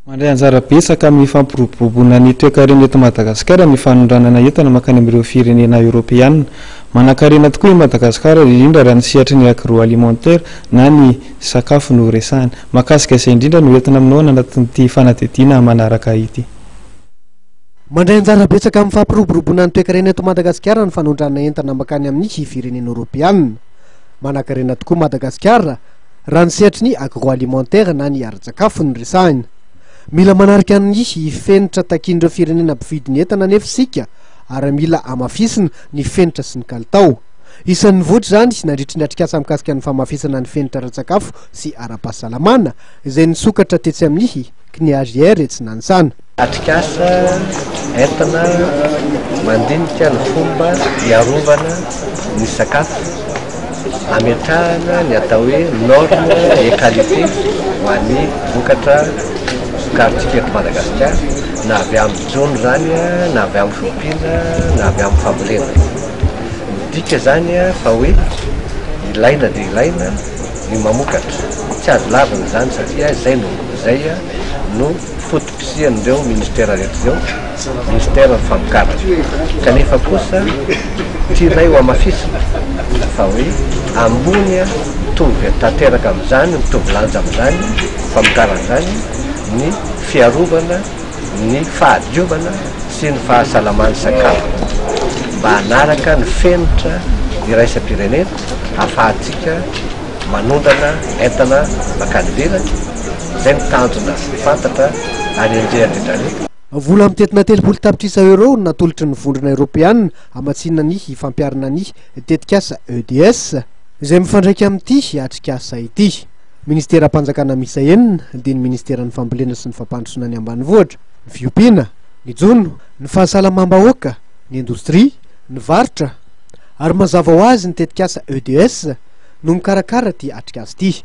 Mandray anjara betsaka amin'ny fampiroboroboana ny toekarena eto Madagasikara ny fanondranana entana mankany amin'ireo firenena eoropeanina. Manankarena tokoa i Madagasikara, indrindra raha ny sehatry ny agroalimentaire na ny sakafo no resahina. Mahakasika izay indrindra no entina aminao any anatin'ity fanadihadiana manaraka ity. Mandray anjara betsaka amin'ny fampiroboroboana ny toekarena eto Madagasikara ny fanondranana entana mankany amin'ny firenena eoropeanina. Manankarena tokoa Madagasikara, Raha ny sehatry ny agroalimentaire na ny ara-tsakafo no resahina. Mila manarika ny fenitra takian'ireo firenena mpividy ny entana anefa isika ary mila hamafisina ny fenitra sy ny kalitao. Isan'ny nivoitra izany nandritry ny atrikasa mikasika ny famafisana ny fenitra ara-tsakafo sy ara-pahasalamana izay nisokatra tetsy amin'ny CNIHR etsy Nanisana. Atrikasa entina mandinika ny fomba hiarovana ny sakafo hametrahana ny atao hoe norme et qualité ho an'ny vokatra vokarintsika eto Madagasikara na avy amin'ny jono izany na avy amin'ny fiompiana na avy amin'ny fambolena. Midika izany fa hoe ilaina dia ilaina ny mamokatra, tsy azo lavina izany satria izay no izay no foto-pisian'ireo ministera rehetra izao ministera ny famokarana kanefa kosa tianay ho hamafisina fa hoe ambony mitovy tanteraka amin'izany mitovy lanja amin'izany famokarana izany ny fiarovana ny fahadiovana sy ny fahasalaman'ny sakafo mba hanaraka ny fenitra iraisam-pirenena hafahantsika manondrana entana mankany ivelany, izay no tanjona sy fantatra ary enjehan'ny Britanniques. Vola mitentina telopolo tapitrisa euros no natolotry ny Vondrona Eoropeana hamatsiana ny fampiharana ny tetikasa EDS, izay mifandraika amin'ity atrikasa ity. Ministeram-panjakana miisa enina dia ny Ministeran'ny Fambolena sy ny Fampandrosoana ny Ambanivohitra, ny Fiompiana, ny Jono, ny Fahasalamam-bahoaka, ny Indostria, ny Varotra, Ary mazava ho azy ny tetikasa EDS no mikarakara ity atrikasa ity.